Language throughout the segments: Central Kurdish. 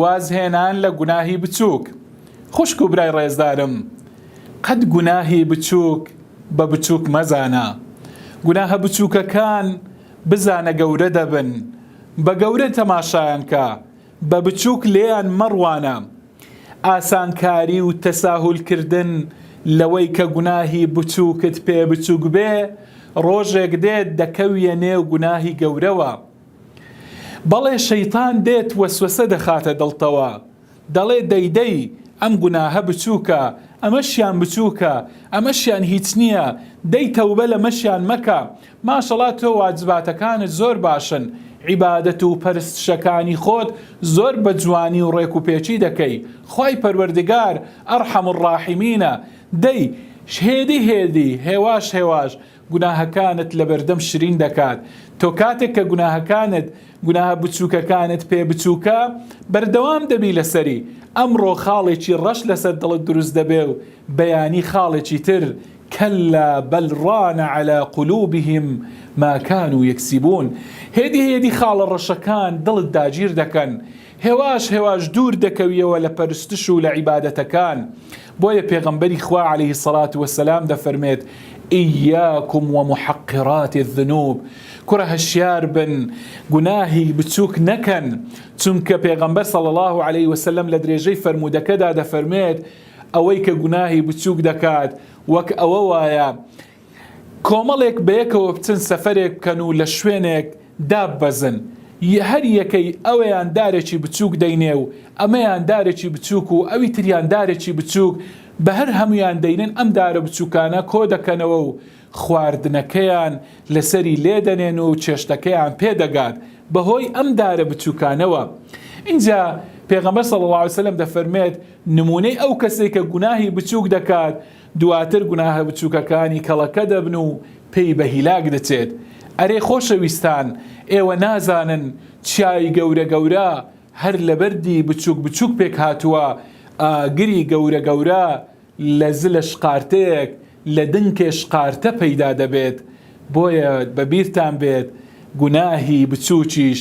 وازهێنان لە گوناهی بچووک. خوشک و برای ڕێزدارم، قەت گوناهی بچووک بە بچووک مەزانە. گوناهە بچووکەکان بزانە گەورە دەبن، بە گەورە تەماشایان کە، بە بچووک لێیان مەڕوانە. ئاسانکاری و تەساهولکردن لەوەی کە گوناهی بچووکت پێ بچووک بێ، ڕۆژێک دێت دەکەویە نێو گوناهی گەورەوە. بەڵێ شەیتان دێت وەسوەسە دەخاتە دڵتەوە دەڵێ دەی دەی ئەم گوناهە بچووکە ئەمەشیان بچووکە ئەمەشیان هیچ نییە دەی تەوبە لەمەشیان مەکە ماشەڵا تۆ واجباتەکانت زۆر باشن عیبادەت و پەرستشەکانی خۆت زۆر بە جوانی و ڕێک و پێچی دەکەی خوای پەروەردگار ئەڕحەم الڕاحیمینە دەی هێدی هێدی هێواش هێواش گوناهەکانت لەبەردەم شرین دەکات تۆ کاتێک کە گوناهەکانت گوناهە بچووکەکانت پێ بچووکە بەردەوام دەبی لەسەری ئەمڕۆ خاڵێکی ڕەش لەسەر دڵت دروست دەبێ و بەیانی خاڵێکی تر کەلا بەل ڕان عەلا قلوبهم ما کانوا یەکسیبون هێدی هێدی خاڵە ڕەشەکان دڵت داگیر دەکەن هێواش هێواش دوور دەکەویەوە لە پەرستش و لە عیبادەتەکان، بۆیە پێغەمبەری خوا علیە الصلوة والسلام دەفەرمێت، ایاکم و محقرات الذنوب، کوڕە هەشیار بن گوناهی بچووک نەکەن، چونکە پێغەمبەر صلی اللە علیە وسلم لە درێژەی فەرموودەکەدا دەفەرمێت، ئەوەی کە گوناهی بچووک دەکات وەک ئەوە وایە کۆمەڵێک بەیەکەوە بچن سەفەرێک بکەن و لە شوێنێک داببەزن، هەر یەکەی ئەویان دارێکی بچووک دەینێ و ئەمەیان دارێکی بچووک و ئەوی تریان دارێکی بچووک، بە هەر هەموویان دەینن ئەم دارە بچووکانە کۆ دەکەنەوە و خواردنەکەیان لەسەری لێ دەنێن و چێشتەکەیان پێ دەگات بە هۆی ئەم دارە بچووکانەوە. ئینجا پێغەمبەر صلی اللە علیە وسلم دەفەرمێت، نموونەی ئەو کەسەی کە گوناهی بچووک دەکات، دواتر گوناهە بچووکەکانی کەڵەکە دەبن و پێی بە هیلاک دەچێت. ئەرێ خۆشەویستان ئێوە نازانن چیای گەورە گەورە هەر لە بەردی بچووک بچووک پێک هاتووە، ئاگری گەورە گەورە لە زلە شقارتەیەک لە دنکێ شقارتە پەیدا دەبێت، بۆیە بە بیرتان بێت گوناهی بچووکیش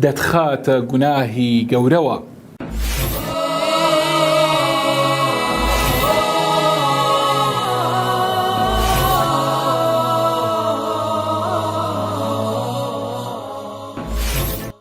دەتخاتە گوناهی گەورەوە.